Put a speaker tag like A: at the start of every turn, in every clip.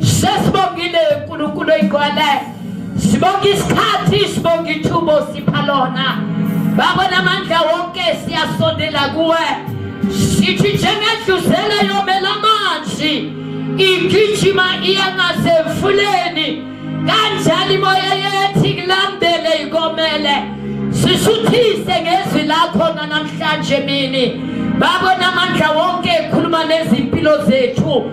A: sesibongile uNkulunkulu oyigcwele sibonga isikhathi sibonga ithubo sipha lona baba namandla wonke siyasondela kuwe sithi njengendluzela yomela amanzi igijima iya ngasemfuleni kanjalo imoya yethu ikulandele ikomele sisuthise ngezwi lakho namhlanje mini baba namandla wonke ekhuluma nezimpilo zethu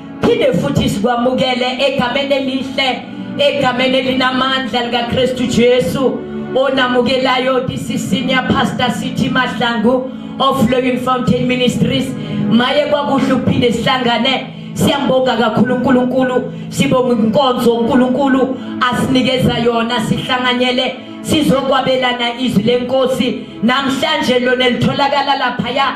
A: phinde futhi sikwamukele egameni elihle egameni elinamandla likaKristu Jesu onamukelayo this is senior pastor Sithi Mahlangu of Living Fountain Ministries maye kwakuhle ukuphinde sihlangane siyambonga kakhulu uNkulunkulu sibonga inkonzo uNkulunkulu asinikeza yona sihlanganyele sizokwabelana izwi lenkosi namhlanje lona litholakala lapha ya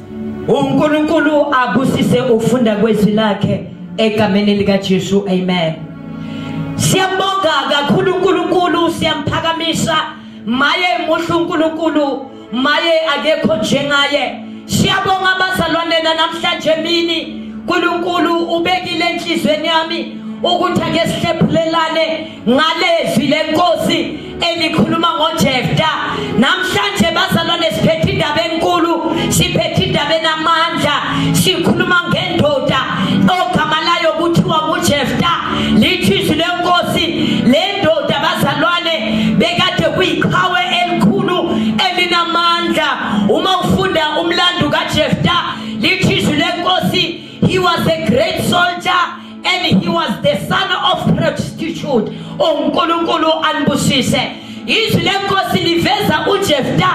B: uNkulunkulu
A: abusise ukufunda kwezwi lakhe egameni lika Jesu amen siyabonga kakhulu uNkulunkulu siyamphakamisa maye muhle uNkulunkulu maye akekho njengaye siyabonga abazalwane namhlanje mini uNkulunkulu ubekile enhlizweni yami ukuthi ake sihlephulelane ngalezwi lenkosi elikhuluma ngojefta namhlanje bazalwane siphethe indaba enkulu siphethe indaba enamandla sikhuluma ngendoda ogama layo kuthiwa ngujefta lithi izwi lenkosi le ndoda bazalwane bekade kuyiqhawe elikhulu elinamandla uma ufunda umlando kajefta lithi izwi lenkosi he was a great soldier and he was the son of prostitute uNkulunkulu anibusise izwi lenkosi liveza uJefta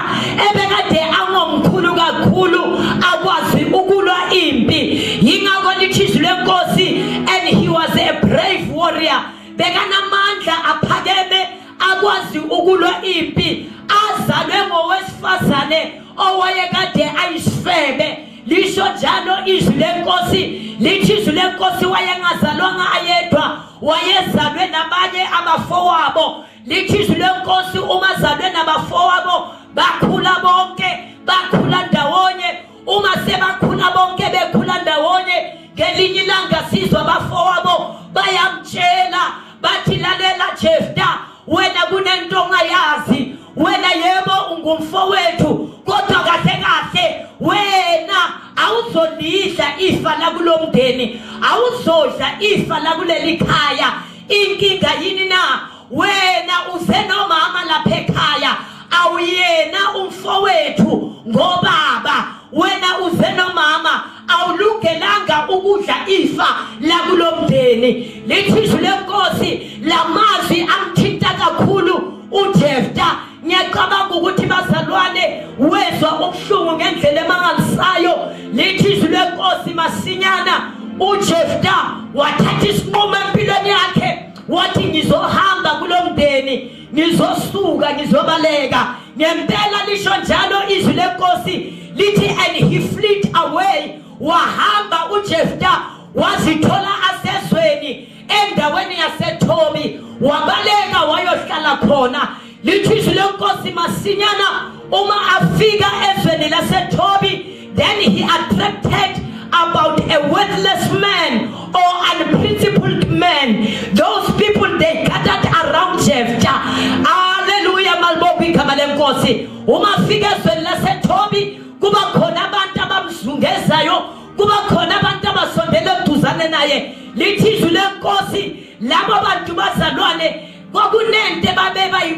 A: ebekade angomkhulu kakhulu akwazi ukulwa impi yingakho lithi izwi lenkosi and he was a brave warrior bekanamandla aphakeme akwazi ukulwa impi azalwe ngowesifazane owayekade ayisifebe lisho njalo izwi lenkosi lithi izwi lenkosi wayengazalwanga ayedwa wayezalwe nabanye abafowabo lithi izwi lenkosi uma zalwe nabafowabo bakhula bonke bakhula ndawonye uma sebakhula bonke bekhula ndawonye ngelinye ilanga sizwa abafowabo bayamtshela bathi lalela jefta wena kunento ongayazi wena yebo ungumfowethu kodwa kahle kahle wena awuzolidla ifa lakulo mndeni awuzodla ifa lakuleli khaya inkinga yini na wena usenomama lapha ekhaya awuyena umfowethu ngobaba wena usenomama awulungelanga ukudla ifa lakulomndeni lithi izwi lenkosi lamazwi amthinta kakhulu uJefta ngiyacabanga ukuthi bazalwane wezwa ubuhlungu ngendlela emangalisayo lithi izwi lenkosi masinyana uJefta wathatha isinqumo empilweni yakhe wathi ngizohamba kulomndeni ngizosuka ngizobaleka ngempela lisho njalo izwi lenkosi lithi and he fleet away wahamba ujefta wazithola asezweni endaweni yasethobi wabaleka wayohlala khona lithi izwi lenkosi masinyana uma afika ezweni lasethobi Then he attracted about a worthless man or unprincipled man. Those people they gathered around Jephthah. Hallelujah malibobi igama lenkosi. Uma fika ezweni laseThobi kuba khona abantu abamzungezayo, kuba khona abantu abasondele eduzane naye. Lithi izwi lenkosi labo bantu bazalwane kwakunento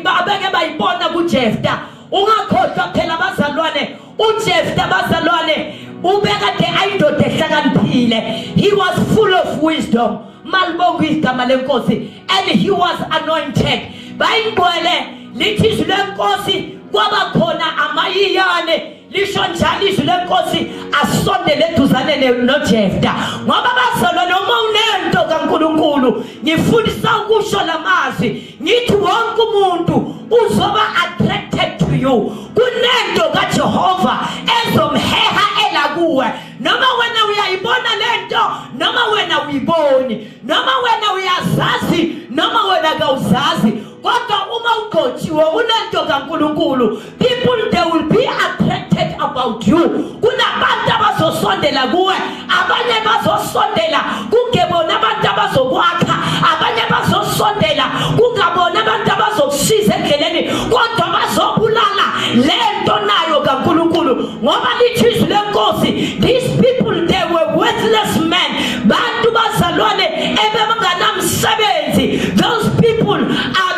A: babeke bayibona kuJephthah. Ungakhohlwa phela bazalwane ujefta bazalwane ubekade ayindoda ehlakaniphile he was full of wisdom malibonga igama lenkosi and he was anointed bayingcwele lithi izwi lenkosi kwaba khona amayiyane lisho njalo izwi lenkosi asondele eduzane nojefta ngoba bazalwa noma unento kankulunkulu ngifundisa ukusho la mazwi ngithi wonke umuntu uzoba attracted to you kunento kaJehova ezomheha elakuwe noma wena uyayibona lento noma wena uyiboni noma wena uyazazi noma wena kawuzazi kodwa uma ugqotshiwe unento kaNkuluNkulu people they will be attracted about you kunabantu abazosondela kuwe abanye bazosondela kungebona abantu abazokwakha abanye bazosondela kungabona abantu abazokusiza endleleni kodwa bazobulala le nto nayo kankulunkulu ngoba lithi izwi lenkosi these people they were worthless men bantu bazalwane ebebanganamsebenzi those people are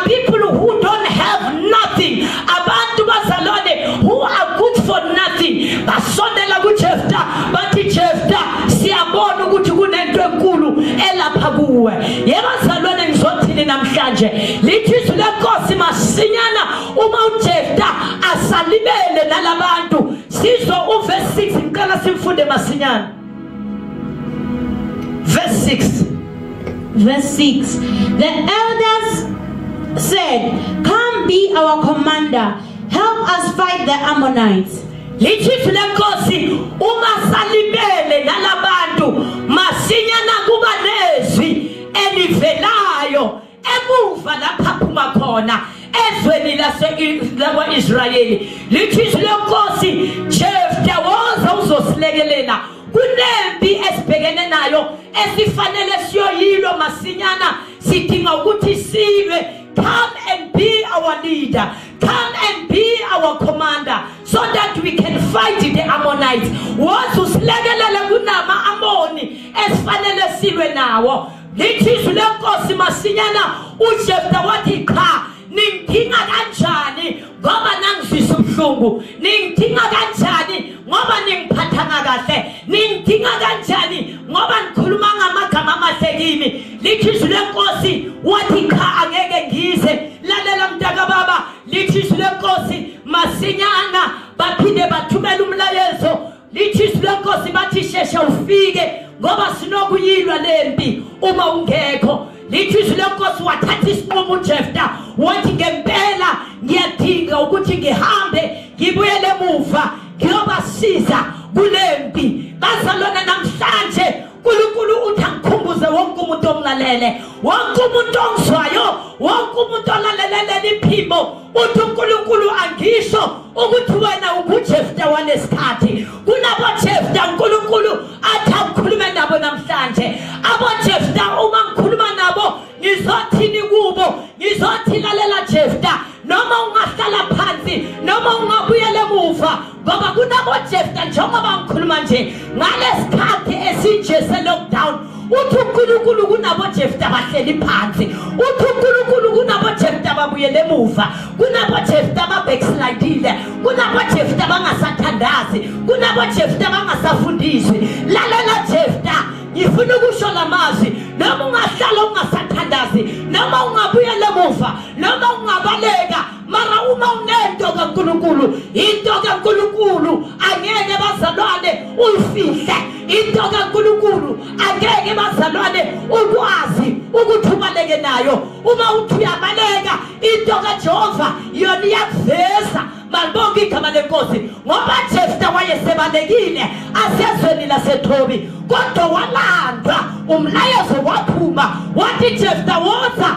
A: abantu bazalwane who are good for nothing basondela kuJefta bathi Jefta siyabona ukuthi kunento enkulu elapha kuwe yebazalwane ngizothini namhlanje lithi izwi lenkosi masinyana uma uJefta asalibele nalabantu sizwe uverse 6 ngicela simfunde masinyana
B: Verse 6. Verse 6. The elders said, Come be our commander, help us fight the Ammonites. lithithi
A: lenkosi uma salibele nalabantu masinyana kuba nezwi elivelayo emuva lapha phuma khona ezweni lakwa-israyeli lithi izwi lenkosi jefta woza uzosilekelela kunempi esibhekene nayo esifanele siyoyilwa masinyana sidinga ukuthi silwe come and be our leader come and be our commander so that we can fight the ammonites woza usilekelele kunama-amoni esifanele silwe nawo lithi izwi lenkosi masinyana ujefta wathi qha ningidinga kanjani ngoba nangizwisa ubuhlungu ningidinga kanjani ngoba ningiphathanga kahle ningidinga kanjani ngoba nikhuluma ngamagama amahle kimi lithi izwi lenkosi wathi qha angeke ngize lalela mntakababa lithi izwi lenkosi masinyana baphinde bathumela umlayezo lithi izwi lenkosi bathi sheshe ufike ngoba sinokuyilwa le mpi uma ungekho lithi izwi lenkosi wathatha isinqumo ujefta wathi ngempela ngiyadinga ukuthi ngihambe ngibuyele emuva ngiyobasiza kule mpi bazalwana namhlanje uNkulunkulu uthi angikhumbuze wonke umuntu omlalele wonke umuntu ongizwayo wonke umuntu olalelele iphimbo uthi uNkulunkulu angisho ukuthi wena ubuJefta walesikhathi kulabo Jefta uNkulunkulu athi akukhulume nabo namhlanje abo Jefta uma ngikhuluma nabo ngizothini kubo ngizothi lalela Jefta noma ungahlala phansi noma ungabuyela emuva ngoba kunabojefta njengoba ngikhuluma nje ngalesikhathi esinje se-lockdown uthi unkulunkulu kunabojefta bahleli phansi uthi unkulunkulu kunabojefta babuyele emuva kunabojefta babackslidile kunabojefta bangasathandazi kunabojefta bangasafundiswi lalela jefta ngifuna ukusho la mazwi noma ungahlala ungasathandazi noma ungabuyela emuva noma ungabaleka mara uma unento kaNkulunkulu into kaNkulunkulu angeke bazalwane uyifihle into kaNkulunkulu angeke bazalwane ukwazi ukuthi ubaleke nayo uma uthi uyabaleka into kaJehova yona iyakuveza malibonke igama lenkosi ngoba Jefta wayesebalekile asezweni laseThobi kodwa walandwa umlayezo waphuma wathi Jefta woza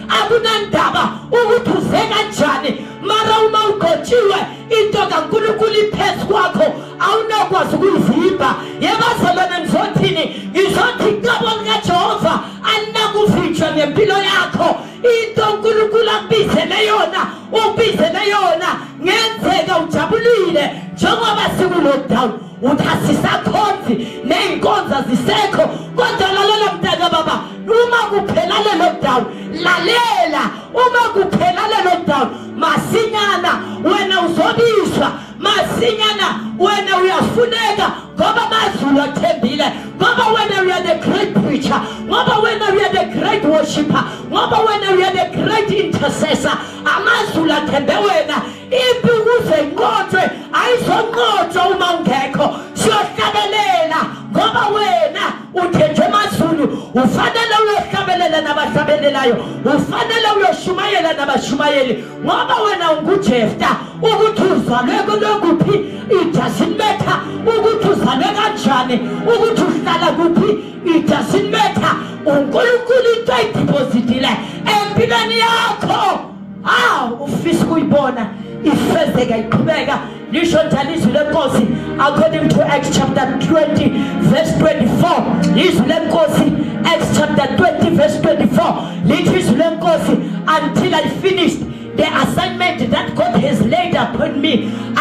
A: akunandaba ukuthi uze kanjani mara uma ugotshiwe into kankulunkulu iphezu kwakho awunokwazi ukuyivimba yebazalwane ngizothini ngizothi icebo likajehova alinakuvinjwa ngempilo yakho into unkulunkulu akubizele yona ukubizele yona ngenzeka ujabulile njengoba sikulockdown ukuthi asisakhonzi ney'nkonzo azisekho kodwa lalela mntaka baba uma kuphela lelo dawu lalela uma kuphela lelo dawu masinyana wena uzobizwa masinyana wena uyafuneka ngoba amazulu athembile ngoba wena uya the great preacher ngoba wena uya the great worshipper ngoba wena uya the great intercessor amazulu athembe wena impi ukuze inqotshwe ayizonqotshwa uma ungekho siyohlabelela ngoba wena uthenjwe emazulu ufanele uyohlabelela nabahlabelelayo ufanele uyoshumayela nabashumayeli ngoba wena ungujefta ukuthi uzalwe kulokuphi ijasinmetha ukuthi uzalwe kanjani ukuthi uhlala kuphi ijasinmetha unkulunkulu into ayidipozitile empilweni yakho aw ufisa ukuyibona ifezeka iqhubeka lisho njalo izwi lenkosi according to acts chapter 20 verse 24 izwi lenkosi acts chapter 20 verse 24 lithi izwi lenkosi until i finished the assignment that god has laid upon me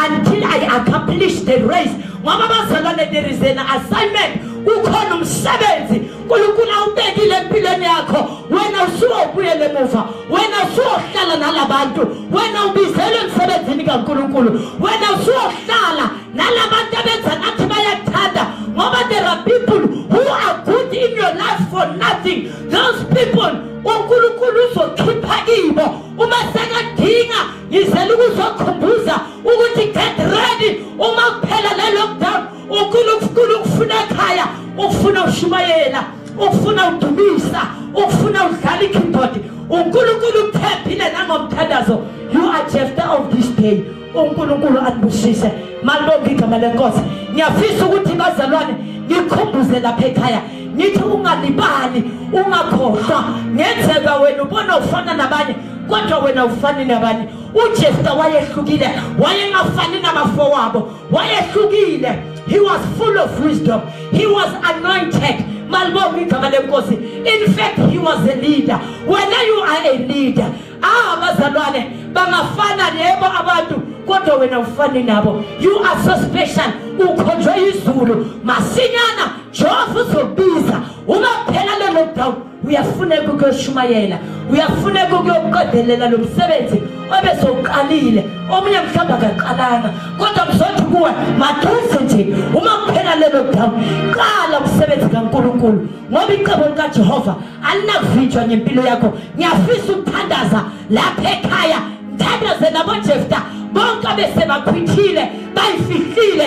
A: until i accomplish the race ngoba bazalwane there is an assignment ukhona umsebenzi unkulunkulu awubekile empilweni yakho wena usuwobuyela emuva wena usuwohlala nala bantu wena ubizelwe emsebenzini kankulunkulu wena usuwohlala nala bantu abenza ngathi bayakuthanda ngoba there are people who are good in your life for nothing those people unkulunkulu uzokhipha kibo uma sekadinga ngizela ukuzokhumbuza ukuthi get ready uma kuphela le lockdown ukhulu ukukhulu ukufuna ekhaya ukufuna ushumayela ukufuna udumisa ukufuna udlala ikeyboard uNkulunkulu ukuphephile nangomthandazo you are Jephthah of this day uNkulunkulu anibusise malibonke igama lenkosi ngiyafisa ukuthi bazalwane nikhumbuze lapha ekhaya ngithi ungalibali ungakhohlwa ngenzeka wena ubona ufana nabanye kodwa wena ufani nabanye uJesu wayehlukile wayengafani nabafowabo wayehlukile he was full of wisdom he was anointed malibonga igama lenkosi in fact he was a leader wena you are a leader ah bazalwane bangafana yebo abantu kodwa wena ufani nabo you are so special ukhonjwe izulu masinyana jehova uzobiza uma phela le lockdown uyafuneka ukuyoshumayela uyafuneka ukuyoqedelela lo msebenzi obesowuqalile omunye mhlawumbe akaqalanga kodwa mzothi kuwe maduze nje uma kuphela lelo dawu qala umsebenzi kankulunkulu ngoba icebo likajehova alinakuvinjwa ngempilo yakho ngiyafisa ukuthandaza lapha ekhaya ngithandaze nabojefta bonke abesebakhwithile bayifihlile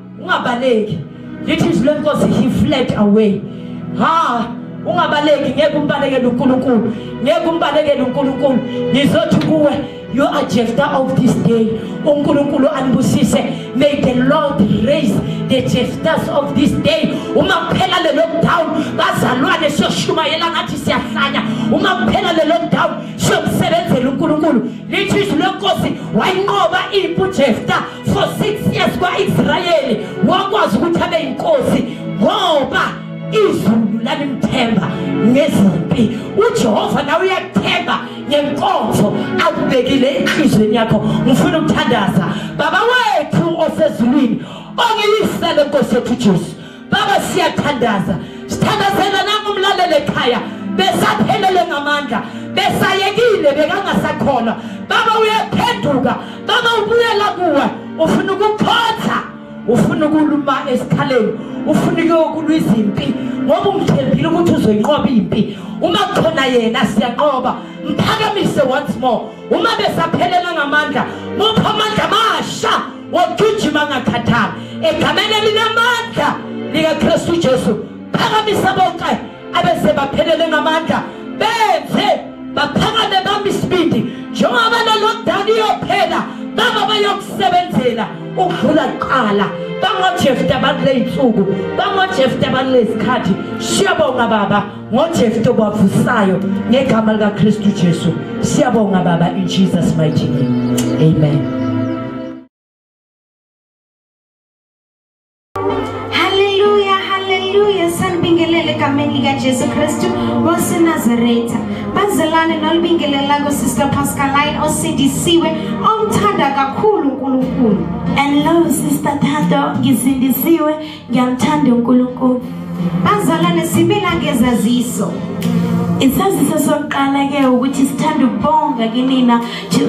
A: ungabaleki lithi izwi lenkosi he fled away ha ungabaleki ngeke umbalekele uNkulunkulu ngeke umbalekele uNkulunkulu ngizothi kuwe you are Jephthah of this day uNkulunkulu anibusise may the Lord raise the Jephthahs of this day uma kuphela le lockdown bazalwane siyoshumayela ngathi siyahlanya uma kuphela le lockdown siyokusebenzela uNkulunkulu lithi izwi lenkosi wayinqoba impu Jephthah for six years kwa-israyeli wakwazi ukuthi abe yinkosi ngoba izulu lalimthemba ngezimpi ujehova nawe uyakuthemba ngenkonzo akubekile enhlizweni yakho ngifuna ukuthandaza baba wethu osezulwini ongilisele nkosi yethu ujesu baba siyathandaza sithandazela nangu umlalele ekhaya besaphelele ngamandla besayekile bekangasakhona baba uyaphenduka baba ubuyela kuwe ufuna ukukhotha ufuna ukuluma esikhaleni ufuna ukuyokulwa izimpi ngoba umthembile ukuthi uzoyinqoba impi uma khona yena siyanqoba mphakamise once more uma besaphelela ngamandla mupha amandla amasha wogijima angakhathali egameni elinamandla likaKristu Jesu phakamisa bonke abese baphelele ngamandla benze baphakame bami isibindi njengoba lo lockdown iyophela baba bayokusebenzela ukudlula kuqala bangojefta bakuley'nsuku bangojefta bakulezikhathi siyabonga baba ngojefta obavusayo ngegama likakristu jesu siyabonga baba in jesus mighty name amen
C: haleluya haleluya sanibingelele egameni likajesu kristu wasenazaretha bazalane nolibingelelako sister pascaline osindisiwe omthanda kakhulu unkulunkulu and love
B: sister thando ngisindisiwe ngiyamthanda unkulunkulu bazalwane
C: simila ngezaziso
B: isaziso sokuqala ke ukuthi sithanda ukubonga kinina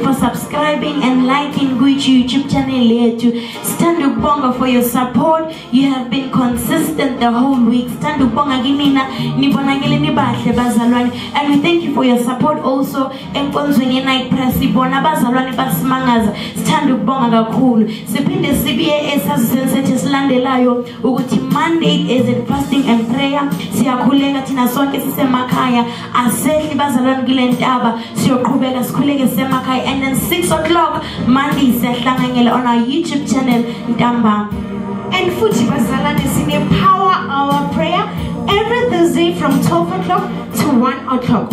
B: for subscribing and liking kwi-youtube channel yethu sithanda ukubonga for your support you have been consistent the whole week sithanda ukubonga kinina nibonakele nibahle bazalwane and we thank you for your support also enkonzweni ye-night prayer sibona abazalwane basimangaza sithanda ukubonga kakhulu siphinde sibuye esaziseni sethu esilandelayo ukuthi monday is it fasting and prayer siyakhuleka thina sonke sisemakhaya asehli bazalwane kule ntaba siyoqhubeka sikhuleke sisemakhaya and then 6 o'clock monday siyahlanganyela on our youtube channel ntambama and futhi
C: bazalwane sine-power hour prayer every thursday from 12 o'clock to 1 o'clock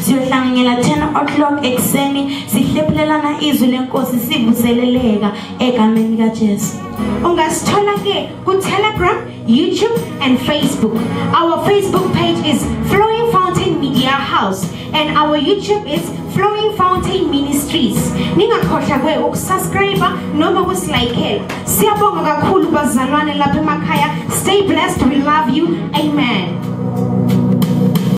B: siyohlanganyela 10 o'clock ekuseni sihlephulelana izwi lenkosi sivuseleleka egameni likajesu ungasithola-ke
C: ku-telegram youtube and facebook our facebook page is flowing fountain media house and our youtube is flowing fountain ministries ningakhohlakwe ukusubscribe noma ukusilayikela siyabonga kakhulu bazalwane lapha emakhaya stay blessed we love you amen